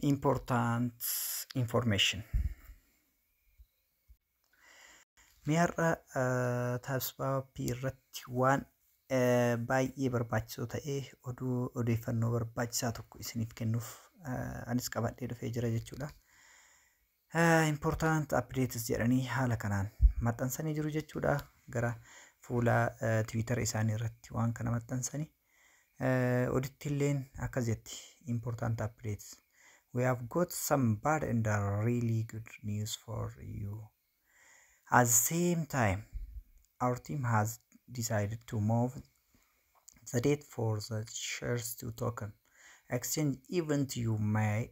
important information. Mee har'a taasifaappii irratti waan baay'ee barbaachisoo ta'e oduu odeeffannoo barbaachisaa tokko isiniif kennuuf anis qabadhee dhufee jira jechuudha. Important updates jedhanii haala kanaan maxxansanii jiru jechuudha. Gara fuula Tiwiitara isaanii irratti waan kana maxxansanii. Odittilleen akkas jetti. Important updates. We have got some bad and really good news for you. At the same time, our team has decided to move the date for the shares to token exchange event you may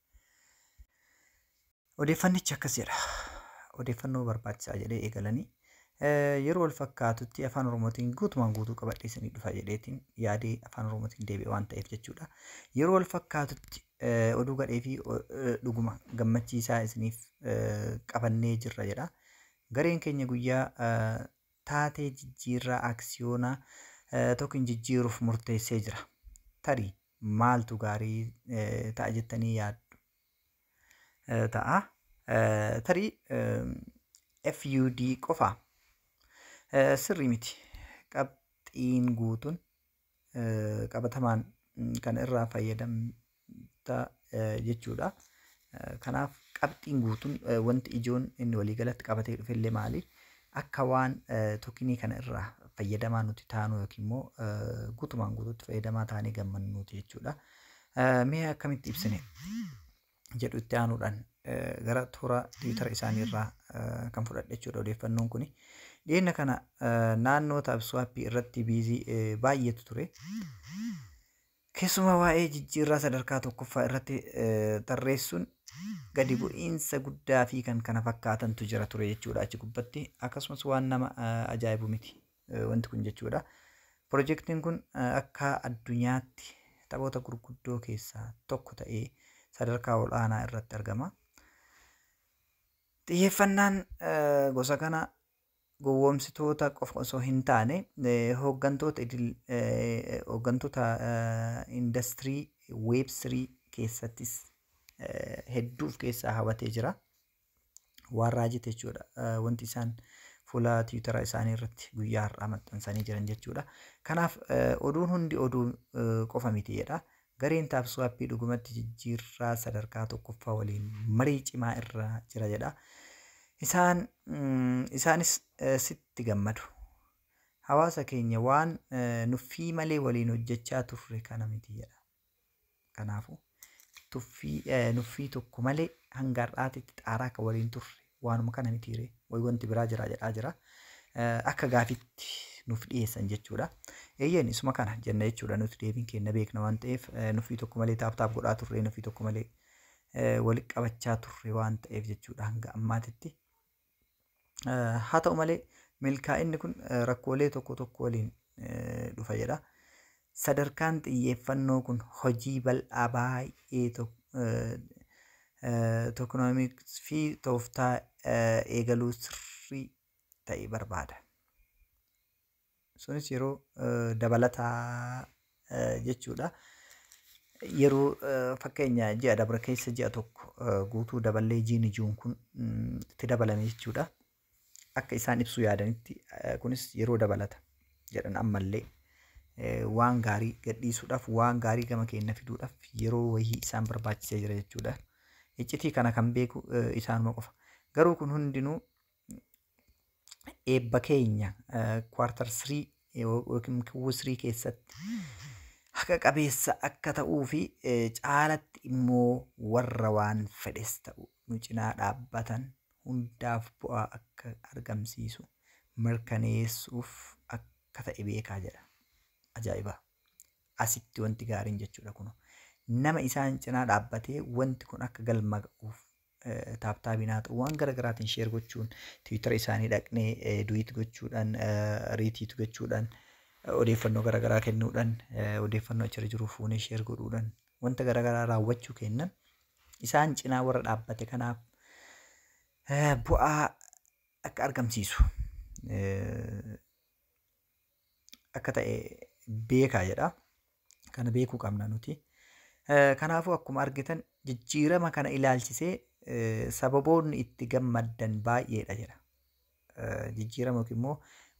Odeeffannichi akkas jedha. Odeeffannoo barbaachisaa jedhee eegalanii yeroo wal fakkaatutti afaan oromootiin guutumaan guutuu qabadhee isinii dhufa jedheetiin yaadee afaan oromootiin deebi'e waan ta'eef jechuudha. Yeroo wal fakkaatutti oduu gadhee fi dhuguma gammachiisaa isiniif qabannee jirra jedha. Gareen keenya guyyaa taatee jijjiirraa aksiyoonaa tokkin jijjiiruuf murteessee jira. Tarii maaltu gaarii ta'a jettanii yaaddu? ta'a. Tarii FUD qofa sirrii miti. Qabxiin guutuun qabatamaan kan irraa fayyadamta jechuudha. Kanaaf qabxiin guutuun wanti ijoon inni waliigalatti qabatee dhufe illee maali? Akka waan tokinii kana irraa fayyadamaa nuti taanuu yookiin immoo guutumaan guutuutti fayyadamaa taanee gammannuuti jechuudha. Mee akkamitti ibsine jedhu itti aanuudhaan gara toora tiwiitara isaanii irraa kan fudhadhe jechuudha odeeffannoon kuni. Dhiyeenya kana naannoo taabswaappii irratti biizii baay'eetu ture. Keessumaa waa'ee jijjiirraa sadarkaa tokkoffaa irratti tarreessuun gadi bu'iinsa guddaa fi kan kana fakkaatantu jira ture jechuudha achi gubbatti akkasumas waan nama ajaa'ibu miti wanti kun jechuudha. Pirojektiin kun akka addunyaatti taphoota gurguddoo keessaa tokko ta'ee sadarkaa ol'aanaa irratti argama. Xiyyeeffannaan gosa kana gowwoomsitoota qofa osoo hin taane hooggantoota idil hooggantoota indastirii weeb sirii keessattis hedduu of keessaa habatee jira. Waan raajite jechuudha. Wanti isaan fuula tiwutara isaanii irratti guyyaa har'aa maxxansanii jiran jechuudha. Kanaaf oduun hundi oduu qofa miti jedha. Gareen Tapswap dhugumatti jijjiirraa sadarkaa tokkoffaa waliin marii cimaa irra jira jedha. Isaan, isaanis sitti gammadu. Hawaasa keenya waan nuffii malee waliin hojjechaa turre kana miti jedha. Kanaafuu, tuffii, nuffii tokko malee hanga har'aatitti xaaraa kan waliin turre waanuma kana mitii ree way wanti biraa jiraa jedhaa jira akka gaafitti nuuf dhiyeessan jechuudha. Eeyyeen isuma kana jenna jechuudha nuti deebiin keenya beekna waan ta'eef nuffii tokko malee taaptaap godhaa turre nuffii tokko malee walitti qabachaa turre waan ta'eef jechuudha hanga ammaatitti. Haa ta'u malee milkaa'inni kun rakkoolee tokko tokko waliin dhufa jedha. Sadarkaan xiyyeeffannoo kun hojii bal'aa baay'ee tokenomics fi tooftaa eegaluu sirrii ta'e barbaada. Sunis yeroo dabalataa jechuudha. Yeroo fakkeenya ji'a dabre keessa ji'a tokko guutuu daballee jiini juun kun itti dabalame jechuudha. akka isaan ibsuu yaadanitti eh, kunis yeroo dabalata jedhan ammallee eh, waan gaarii gadhiisuudhaaf waan gaarii gama keenya fiduudhaaf yeroo wayii isaan barbaachisee jira jechuudha. Iccitii kana kan beeku eh, isaanuma qofa. Garuu kun hundinuu eebba keenya kwartar sirii yookiin kiwuu sirii keessatti haqa qabeessa akka ta'uu fi eh, caalatti immoo warra waan fedhes ta'u nu cinaa dhaabbatan hundaaf bu'aa akka argamsiisu mirkaneessuuf akka ta'e beekaa jedha. Ajaa'iba! Asitti wanti gaariin jechuudha kuno. Nama isaan cinaa dhaabbatee wanti kun akka galma ga'uuf taaptaabiin haa ta'u waan gara garaatiin sheer gochuun tiwiitara isaanii dhaqnee duwiit gochuudhaan riitiit gochuudhaan odeeffannoo gara garaa kennuudhaan odeeffannoo achirra jiru fuunee sheer godhuudhaan wanta gara garaa raawwachuu keennan isaan cinaa warra dhaabbate kanaaf eh, bu'aa akka argamsiisu eh, akka ta'e beekaa jedha. Kana beekuu qabna nuti. Eh, Kanaafuu akkuma argitan jijjiirama kana ilaalchisee eh, sababoonni itti gammaddan baay'eedha jedha. jijjiirama yookiin immoo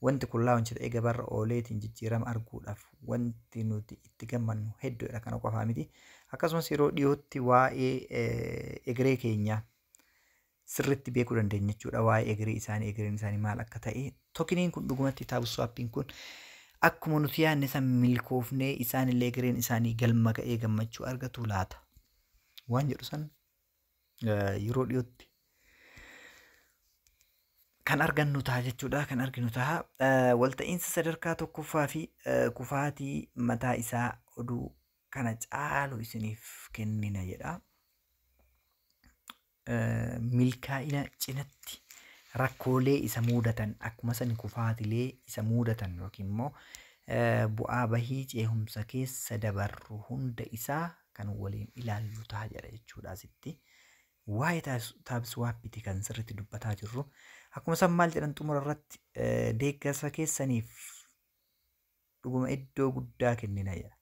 wanti kun launch ta'ee gabaarra ooleetiin jijjiirama arguudhaaf wanti nuti itti gammannu hedduudha kana qofaa miti. Akkasumas yeroo dhiyootti waa'ee eh, egeree keenyaa sirriitti beekuu dandeenya jechuudha waa'ee egeree isaanii egereen isaanii maal akka ta'e tokiniin kun dhugumatti taabuswaappiin kun akkuma nuti yaadne san milkoofnee isaanillee egereen isaanii galma ga'ee gammachuu argatu laata waan jedhu san yeroo dhiyootti kan argannu ta'a jechuudha kan arginu ta'a walta'iinsa sadarkaa tokkoffaa fi kufaatii mataa isaa oduu kana caalu isiniif kennina jedha. Milkaa'ina cinatti rakkoolee isa muudatan akkuma san kufaatilee isa muudatan yookiin immoo bu'aa bahii ceehumsa keessa dabarru hunda isaa kan waliin ilaallu ta'a jedha jechuudha asitti. Waa'ee taab swaappiti kan sirriitti dubbataa jirru. Akkuma isaan maal jedhan xumura irratti deeggarsa keessaniif dhuguma iddoo guddaa kennina jedha.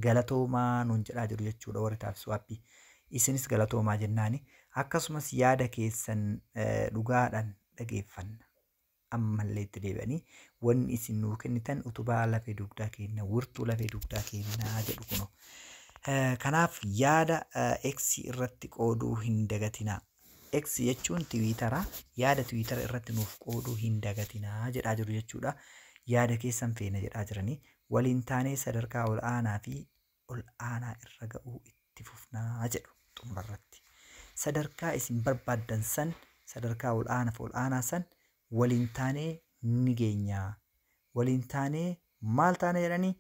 Galatoomaa nuun jedhaa jiru jechuudha warri taab swaappii. Isinis galatoomaa jennaani. Akkasumas yaada keessan dhugaadhaan dhageeffanna. ammallee itti deebi'anii wanni isin nuu kennitan utubaa lafee dugdaa keenna wirtuu lafee dugdaa keennaa jedhu kuno. Kanaaf yaada X irratti qooduu hin dagatinaa. X jechuun tiwiitara yaada tiwiitara irratti nuuf qooduu hin dagatinaa jedhaa jiru jechuudha. Yaada keessan feena jedhaa jiranii waliin taanee sadarkaa ol aanaa fi ol aanaa irra ga'uu itti fufna jedhu xumura irratti. Sadarkaa isin barbaaddan san, sadarkaa ol aanaaf ol aanaa san waliin taanee ni geenya. Waliin taanee maal taana jedhanii?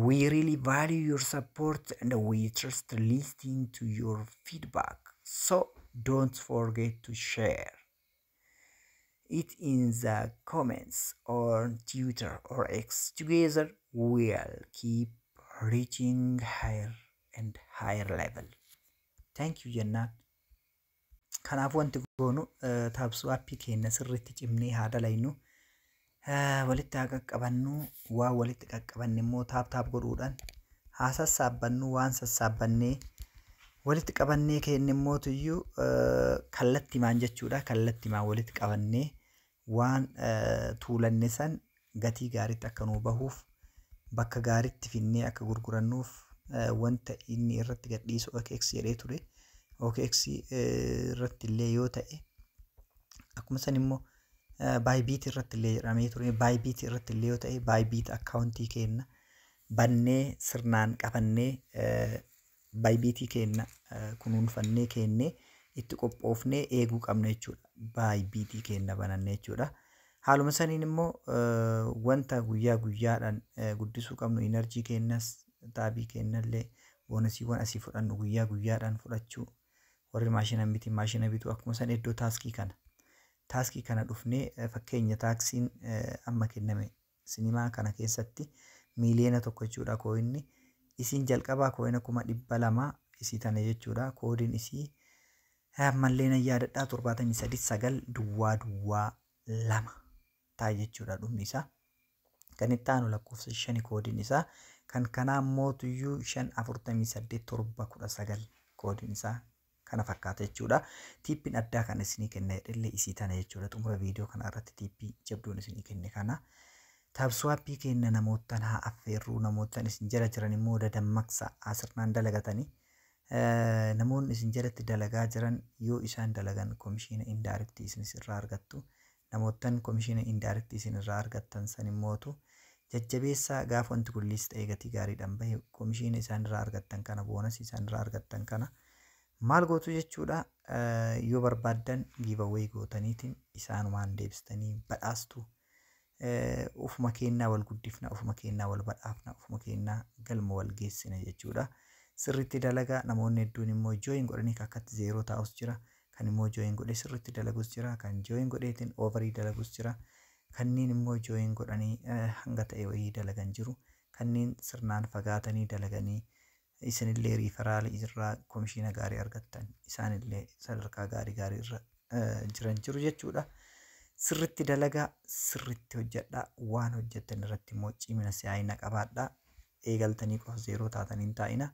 We really value your support and we trust listening to your feedback. So don't forget to share. it in the comments or Twitter or X. Together we'll keep reaching higher and higher level. Thank you jennaan. Kanaaf wanti goonu taabsuu appii keenya sirriitti cimnee haa dalaynu. Eh, walitti haa qaqqabannu waan walitti qaqqabanne immoo taap taap godhuudhaan haa sassaabbannu waan sassaabbannee walitti qabannee keenne immoo tuyyuu eh, kallattimaan jechuudha kallattimaan walitti qabannee waan eh, tuulanne san gatii gaariitti akka nuu bahuuf bakka gaariitti finnee akka gurgurannuuf eh, wanta inni irratti gadhiisu OKX jedhee ture OKX eh, irratti illee yoo ta'e akkuma san immoo Bybit irratti illee jedhamee ture. Bybit irratti illee yoo ta'e Bybit akkaawuntii keenna bannee sirnaan qabannee Bybit keenna kunuunfannee keennee itti qophoofnee eeguu qabna jechuudha. Bybit keenna bananne jechuudha. Haaluma saniin immoo wanta guyyaa guyyaadhaan guddisuu qabnu inarjii keennas taabii keennallee boonasiiwwan asii fudhannu guyyaa guyyaadhaan fudhachuu warri maashina miti maashina bituu akkuma san iddoo taaskii kana taaskii kana dhufnee eh, fakkeenya taaksiin eh, amma kenname sinimaa kana keessatti miiliyoona tokko jechuudha kooyinni isiin jalqabaa kooyina kuma dhibba lama isii tana jechuudha koodiin isii eh, ammallee nan yaadadhaa torbaatamii sadii sagal duwwaa duwwaa lama ta'a jechuudha dhumni isaa. Kan itti aanu lakkoofsa shani koodiin isaa kan kanaa mootuyyuu shan afurtamii saddeet torba kudha sagal koodiin isaa kana fakkaata jechuudha. Tiippiin addaa kan isinii kenna jedhellee isii tana jechuudha. Xumura viidiyoo kana irratti tiippii jabduun isinii kenne kana. Taabsuwaappii kenna namoottan haa affeerruu namoottan isin jala jiran immoo dadammaqsa asirnaan dalagatanii. Namoonni isin jalatti dalagaa jiran yoo isaan dalagan komishiina indaayirektii isinis irraa argattu. namoottan komishiina indirect isin irraa argattan san immootu jajjabeessaa gaaf wanti kun list ta'ee gatii gaariidhan bahe komishiina isaan irraa argattan kana boonasii isaan irraa argattan kana maal gootu jechuudha yoo barbaaddan giveaway gootaniitiin isaanumaan deebistanii badhaastu ufuma keennaa wal guddifna ufuma keennaa wal badhaafna ufuma keennaa galma wal geessina jechuudha sirriitti dalagaa namoonni hedduun immoo join godhanii kakkatti zeeroo taa'us jira kan immoo join godhee sirriitti dalagus jira kan join godheetiin overii dalagus jira kanneen immoo join godhanii hanga ta'e wayii dalagan jiru kanneen sirnaan fagaatanii dalaganii isinillee riifaraali irraa komishiina gaarii argattan isaanillee sadarkaa gaarii gaarii irra jiran jiru jechuudha. Sirritti dalagaa sirritti hojjedhaa waan hojjettan irratti immoo cimina si'aayina qabaadhaa eegaltanii qofa zeeroo taatanii hin taa'ina.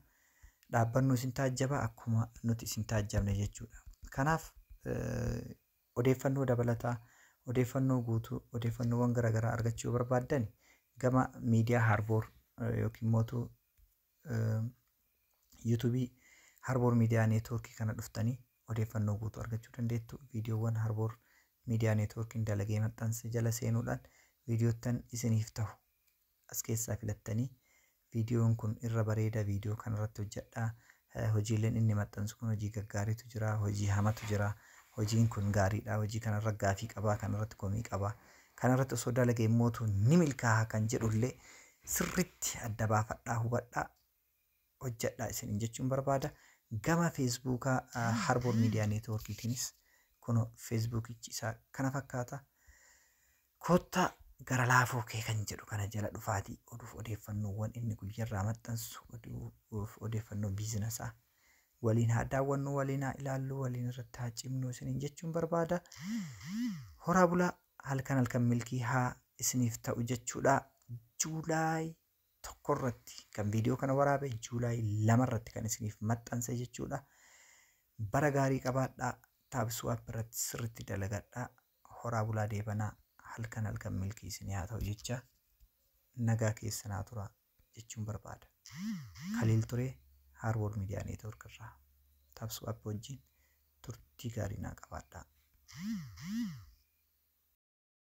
dhaabbannu isin taajjaba akkuma nuti isin taajjabne jechuudha. Kanaaf odeeffannoo dabalataa, odeeffannoo guutuu, odeeffannoowwan garaagaraa argachuu barbaaddan gama miidiyaa Harboor yookiin mootu yuutuubii Harboor miidiyaa neetwoorkii kana dhuftanii odeeffannoo guutuu argachuu dandeettu. Viidiyoowwan Harboor miidiyaa neetwoorkiin dalagee maxxanse jala seenuudhaan viidiyoottan isiniif tahu as keessaa filattanii viidiyoon kun irra bareeda viidiyoo kana irratti hojjadhaa hojiileen inni maxxansu kun hojii gaggaariitu jira hojii hamatu jira hojiin kun gaariidha hojii kanarra gaafii qabaa kanarratti komii qabaa kanarratti osoo dalage immootu ni milkaaha kan jedhullee sirritti adda baafadhaa hubadhaa hojjadhaa isiniin jechuun barbaada. Gama Feesbuuka Harboor Miidiyaa Neetwoorkiitiinis kun Feesbuukichi isaa kana fakkaata. Koottaa gara laafoo kee kan jedhu kana jala dhufaatii oduuf odeeffannoowwan inni guyyarraa maxxansu oduuf odeeffannoo biizinasaa waliin haa daawwannu waliin haa ilaallu waliin irratti haa cimnu isiniin jechuun barbaada. Horaa bulaa halkan halkan milkii haa isiniif ta'u jechuudha. Juulaay tokko irratti kan viidiyoo kana waraabe Juulaay lama irratti kan isiniif maxxanse jechuudha. Bara gaarii qabaadhaa taabsuu app irratti sirriitti dalagadhaa horaa bulaa deebanaa halkan halkan milkii isinii haa ta'u jecha nagaa keessa naa tura jechuun barbaada. Kaliil ture Haarwood Miidiyaa Neetwoork irraa taabsuu app wajjin turtii gaarii naa qabaadhaa.